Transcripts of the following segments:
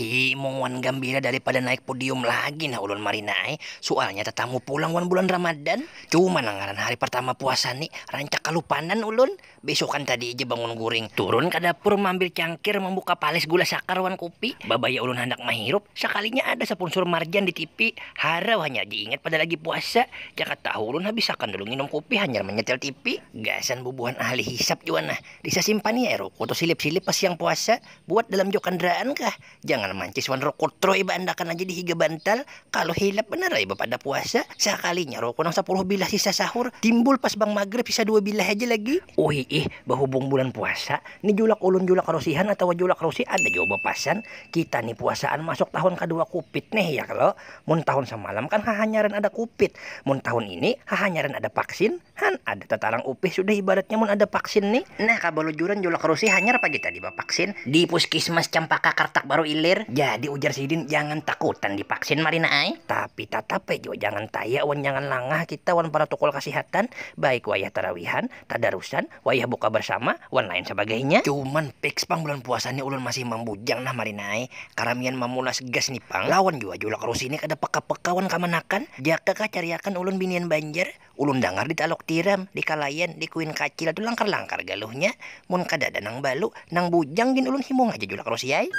Ih, mung wan gambira daripada naik podium lagi nah ulun marina ai. Sualnya tatamu pulang wan bulan Ramadan. Cuma nah ngaran hari partama puasa ni, rancak kalupanan ulun. Besukan tadi ja bangun guring, turun ka dapur maambil cangkir, mambuka palis gula sakar wan kupi. Babaya ulun handak mahirup, sakalinya ada sapunsur marjan di tipi. Harau hanyar diingat pada lagi puasa. Jaka tahu ulun habisakan dulu nginum kupi hanyar manyetel tipi. Gasan bubuhan ahli hisap jua nah. Disasimpan iya ruku tu silip-silip pas siang puasa, buat dalam jua kandaraan kah, jangan mancis wan ruku troy baandakan aja di higa bantal, kalu hilap banar ai bapadah puasa, sakalinya ruku nang sapuluh bilah sisa sahur timbul pas bang magrib sisa dua bilah haja lagi. Uhiih, bahubung bulan puasa ni julak ulun julak rusihan atawa julak rusih ada jua bapasan, kita ni puasaan masuk tahun kadua kupit neh ya kalo, mun tahun samalam kan hahanyaran ada kupit, mun tahun ini hahanyaran ada paksin, Han ada tatarang upih sudah ibaratnya mun ada vaksin ni. Nah kabalujuran julak rusi hanyar pagi tadi bavaksin di puskismas Cempaka Kartak Baru Ilir, jadi ujar sidin jangan takutan di vaksin marina ai, tapi tatap ai jua jangan taya wan jangan langah kita wan paratokol kasihatan baik wayah tarawihan, tadarusan, wayah buka barsama, wan lain sabagainya. Cuman piks pang bulan puasa ni ulun masih mambujang nah marina ai, karamian mamulas gas ni pang, lawan jua julak rusi ni kada peka-peka wan kamanakan, jaka kah cariakan ulun binian banjar. Ulun dangar di Taluk Tiram, di Kalayan, di Kuin Kacil tu langkar-langkar galuhnya, mun kadada nang balu, nang bujang gin ulun himung haja julak Rosi ai.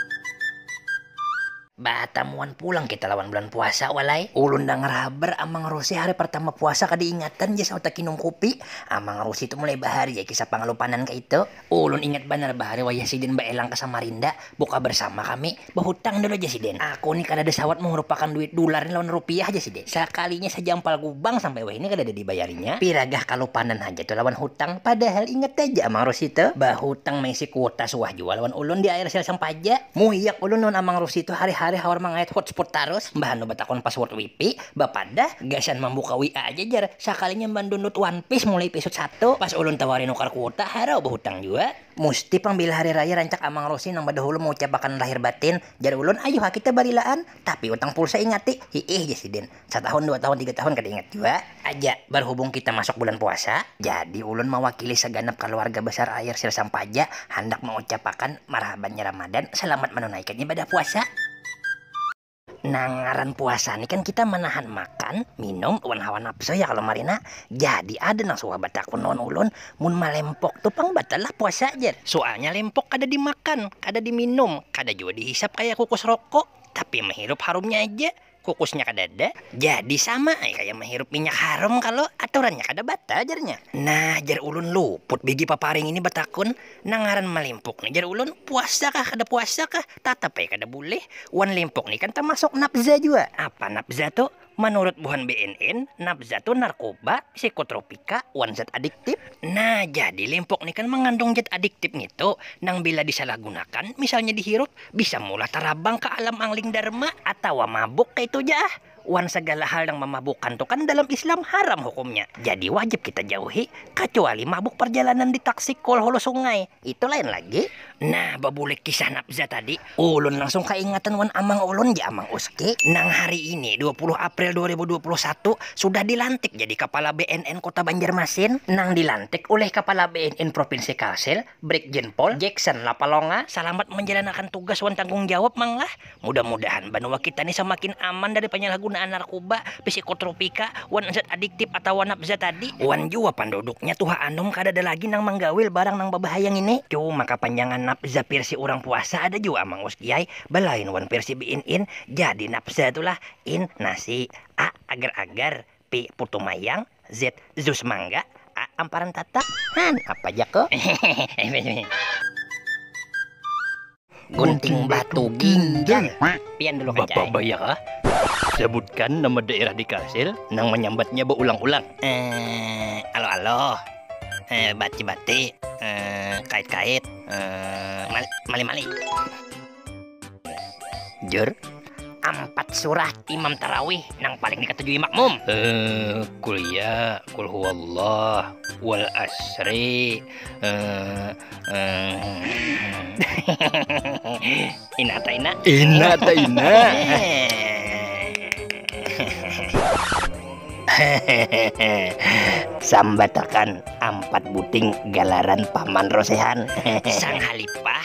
Batamuan pulang kita lawan bulan puasa walai. Ulun dangar habar Amang Rosi hari partama puasa kada ingatan ja sauta kinum kupi, Amang Rosi tu mulai bahari ai kisah pangalupanan kaitu. Ulun ingat banar bahari wayah sidin baelang ka Samarinda buka bersama kami, bahutang dulu jar sidin, aku ni kadada sawat mangurupakan duit dular ni lawan rupiah jar sidin, sakalinya sajampal gubang sampai wahini kadada dibayarinya, piragah kalupanan haja tu lawan hutang, padahal ingat haja Amang Rusdi tu bahutang maisi kuota suah jua lawan ulun di air sel Sampaja, muiak ulun lawan Amang Rusdi tu hari-hari hawar mangayat hotspot tarus, mbah anu batakun password wipi, Bapandah, gasan mambuka WA aja jar, sakalinya mandunlud one piece mulai episode satu, pas ulun tawari nukar kuota, harau bahutang jua. Musti pang bila hari raya rancak amang rosi nang badahulu maucapakan lahir batin, jar ulun ayuh ha kita balilaan, tapi utang pulsa ingati, hiih jar sidin, satahun dua tahun tiga tahun kada ingat jua. Aja, barhubung kita masuk bulan puasa, jadi ulun mawakili saganap kaluarga besar air sir sampaja handak maucapakan marhabannya ramadan salamat manunaikan ibadah puasa. Nang ngaran puasa ni kan kita manahan makan, minum, wan hawa napsu ya kalo marina. Jadi ada nang suah batakun lawan ulun, mun malempok tu pang batal lah puasa jar. Sualnya lempok kada dimakan, kada diminum, kada jua dihisap kaya kukus rokok, tapi mahirup harumnya aja, kukusnya kadada, jadi sama ai kaya mahirup minyak harum kalo, aturannya kada batal jarnya. Nah jar ulun luput bigi paparing ini batakun, Nang ngaran malimpuk ni jar ulun puasa kah kada puasa kah tatap ai kada bulih wan limpuk ni kan tamasuk nabza jua. Apa nabza tu? Manurut buhan bnn, nabza tu narkoba, psikotropika, wan zat adiktip. Nah, jadi limpuk ni kan mangandung zat adiktip ngitu nang bila disalahgunakan, misalnya dihirup, bisa meulah tarabang ka alam angling dharma atawa mabuk kaitu ja ah. Wan sagala hal nang mamabukan tu kan dalam Islam haram hukumnya, jadi wajib kita jauhi, kacuali mabuk parjalanan di taksi kul hulu sungai, itu lain lagi. Nah, babulik kisah Nabza tadi, ulun langsung kaingatan wan amang ulun ja, Amang Uski, nang hari ini dua puluh April dua ribu dua puluh satu sudah dilantik jadi Kapala BNN Kota Banjarmasin, nang dilantik ulih Kapala BNN Provinsi Kalsel, Brigjen Paul Jackson Lapalonga salamat manjalanakan tugas wan tanggung jawab mang lah, mudah mudahan banua kita ni samakin aman dari panyalahgunaan narkuba, psikotropika, wan zat adiktif atawa nabza tadi, wan jua panduduknya tuha anum kadada lagi nang manggawil barang nang babahaya ngini, cuma kapanjangan nabza pirsi urang puasa ada jua mang uskiay, balain wan pirsi biin in, jadi nabza tu lah in, nasi, a, agar agar. P putu mayang, Z jus mangga, A amparan tatak, han apa ja ko. Gunting batu ginjal. Pian dulu kacai. Bapak Bayaka, sebutkan nama daerah di Kalsel nang manyambatnya baulang-ulang. Eh, aloh-aloh. Eh, bati-bati. Eh, kait-kait. Eh, mali-mali. Jer, ampat surah imam tarawih nang paling dikatujui makmum. Uh, kul ya, kul huwallah, wal asri. Uh, uh. ina ta ina. Ina ta ina. Sambatakan ampat buting galaran paman rosehan. Sang halipah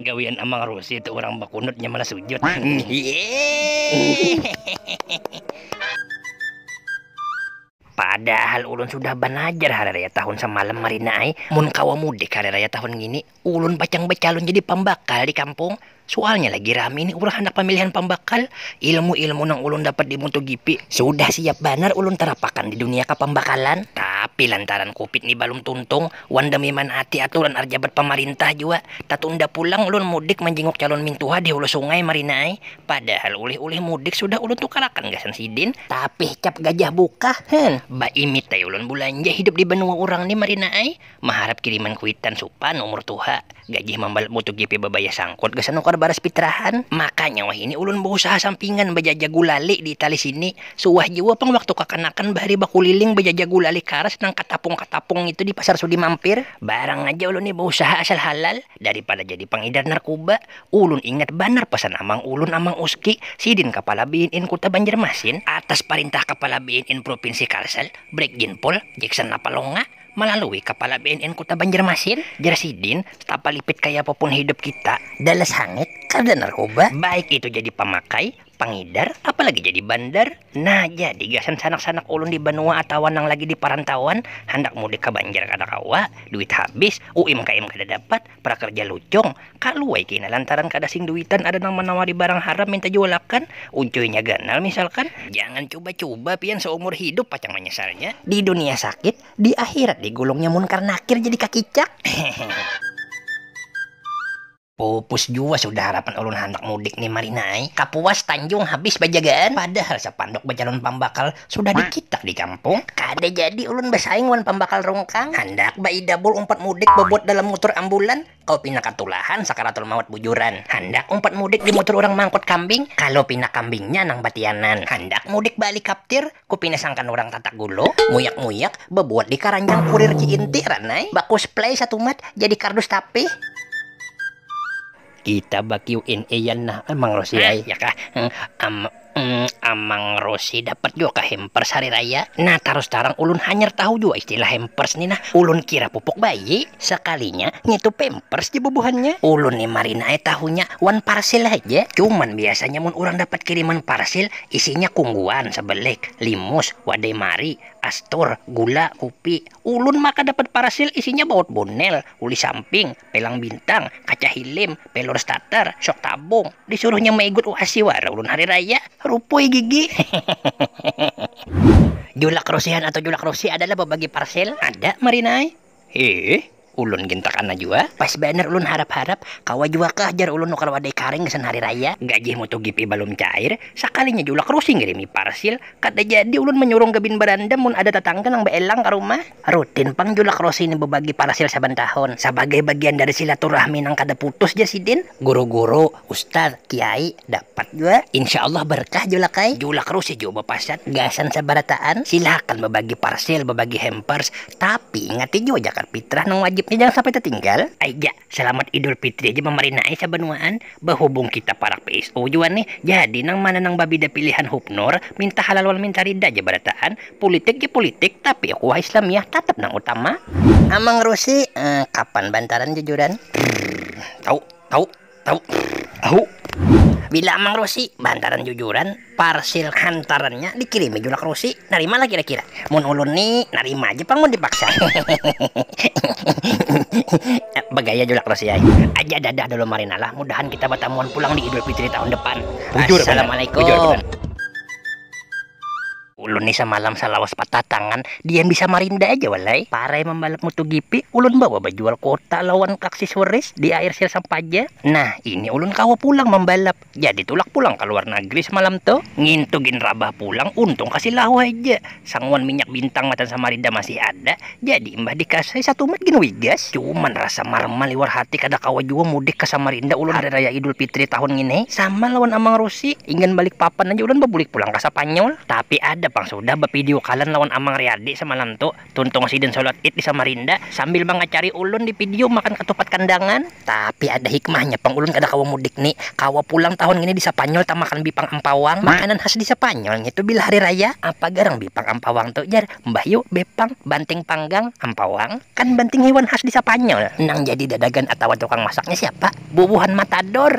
gawian amang rusi tu urang bakunut nya malah sujud padahal ulun sudah balajar hari raya tahun samalam marina ai mun kawa mudik hari raya tahun ngini. Ulun pacang bacalun jadi pambakal di kampung, sualnya lagi rami ni urang handak pamilihan pambakal, ilmu-ilmu nang ulun dapat di MotoGP sudah siap banar ulun tarapakan di dunia kapambakalan, tapi lantaran covid ni balum tuntung wan demi manaati aturan arjabat pamarintah jua, tatunda pulang ulun mudik manjinguk calon mintuha di hulu sungai marina ai, padahal ulih-ulih mudik sudah ulun tukarakan gasan sidin, tapi cap gajah bukah, heh, baimit ai ulun bulanja hidup di banua urang ni marina ai, Maharap kiriman kuitan supan umur tuha, gajih mambalut motogp babaya sangkut gasan nukar baras pitrahan, makanya wahini ulun bausaha sampingan bajaja gulali di itali sini, suah jua pang waktu kakanakan bahari bakuliling bajaja gulali karas nang katapung-katapung ngitu di pasar sudi mampir, barang aja ulun ni bausaha asal halal, daripada jadi pangidar narkuba, ulun ingat banar pasan amang ulun Amang Uski, sidin kapala BNN kuta Banjarmasin, atas parintah kapala BNN prupinsi Kalsel, Brigjen Pol, Jackson Lapalonga, Malalui Kapala BNN Kuta Banjarmasin, jar sidin, tapalipit kayapa pun hidup kita, dalas hangit, kada narkoba, baik itu jadi pamakai, pangidar, apalagi jadi bandar, nah jadi gasan sanak-sanak ulun di banua atawa nang lagi di parantauan, handak mudik ka Banjar kada kawa, duit habis, UIMKM kada dapat, Prakerja lucung, kaluai kina lantaran kada sing duitan ada nang manawari barang haram minta jualakan, uncuinya ganal misalkan. Jangan cuba-cuba pian saumur hidup pacang manyasalnya. Di dunia sakit, di akhirat digulungnya munkar nakir jadi kakicak. Hehehe. Pupus jua sudah harapan ulun handak mudik ni Marinai, Kapuas, Tanjung habis bajagaan, padahal sapanduk bacalun pambakal Sudah dikitak di kampung, kada jadi ulun basaing wan pambakal rungkang. Handak baidabul umpat mudik babuat dalam mutur ambulan, kalu pina katulahan sakaratul maut bujuran. Handak umpat mudik di mutur urang mangkut kambing, kalu pina kambingnya nang batianan. Handak mudik balikaptir, ku pina sangkan urang tatak gulo, muyak-muyak, babuat di karanjang kurir Ci Inti, Ranai, bakusplay satumat jadi kardus tapih. Kita ba QNA yan nah Amang Rosi ai. Ya kah. Am Amang Rosi dapat jua kah hampers hari raya? Nah tarus tarang ulun hanyar tahu jua istilah hampers ni nah. Ulun kira pupuk bayi. Sakalinya ngitu pampers ja bubuhannya. Ulun ni marina ai tahunya wan parcel haja. Cuman biasanya mun urang dapat kiriman parcel isinya kungguan, sebelek, limus, wadai mari, astor, gula, kupi. Ulun maka dapat parcel isinya baut bonel, uli samping, Pelang Bintang, Kaca Hilim, Pelor Starter, Syok Tabung, disuruhnya maigut UASI wara ulun hari raya, rupui gigi. Julak Rusihan atau Julak Rusi adalah babagi parcel ada marina ai. Hih, ulun gin takana jua, pas banar ulun harap-harap, kawa jua kah jar ulun nukar wadai karing gasan hari raya. Gajih Motogp balum cair, sakalinya Julak Rusi ngirimi parcel, kada jadi ulun manyurung gabin barandam mun ada tatangga nang baelang ka rumah. Rutin pang julak Rosi ni bebagi parasil saban tahun. Sabagai bagian dari silaturahmi nang kada putus jar sidin. Guru-guru, ustaz, kiai, dapat jua. Insya Allah berkah julak ai. Julak Rosi jua bapasan, gasan sabarataan, silakan bebagi parsil, bebagi hampers, tapi ingati jua jakat fitrah nang wajib ni jangan sampai tertinggal. Aik ja, Salamat Idul Fitri aja mamarina ai sabanuaan, bahubung kita parak PSU jua nih, jadi nang mana nang babida pilihan hupnur, minta halal wal minta rida aja barataan, pulitik ja pulitik tapi ukuah Islamiah tatap nang utama. Amang Rusi, eh, kapan bantaran jujuran? Prrrrrrr. Tau, tau, tau, prrrrrrr. Ahu. Bila Amang Rusi bantaran jujuran? Parsil hantarannya dikirimi Julak Rusi, narima lah kira-kira? Mun ulun ni narima aja pang mun dipaksa. Bagaya Julak Rusi ai. Aja dadah dulu marina lah, mudahan kita batamuan pulang di Idul Fitri tahun depan. Assalamualaikum. Ulun ni samalam salawas patah tangan, dian bisa marinda aja wal ai. Parai mambalap MotoGP, ulun bawa bajual kota lawan Kaksisweris di air sir sampaja. Nah, ini ulun kawa pulang mambalap. Jadi tulak pulang ka luar nagri samalam tu, ngintu gin rabah pulang, untung kasi lahu haja, sanguan minyak bintang matan samarida masih ada, jadi imbah dikasai satumat gin wigas. Cuman rasa marma liwar hati kada kawa jua mudik ka samarinda ulun hari raya idul pitri tahun ngini, sama lawan amang rusi, inggan balik papan haja ulun babulik pulang ka sapanyol, tapi ada pang sudah bapidiukalan lawan amang riyadi samalam tu. Tuntung sidin solat id di Samarinda sambil mangacari ulun di video makan katupat kandangan. Tapi ada hikmahnya pang ulun kada kawa mudik ni, kawa pulang tahun ngini di Sapanyol tamakan bipang ampawang. Makanan khas di Sapanyol ngitu bila hari raya. Apa garang bipang ampawang tu jar mbah yu, bepang, banting panggang, ampawang? Kan banting hiwan khas di Sapanyol. Nang jadi dadagan atawa tukang masaknya siapa? Bubuhan matador.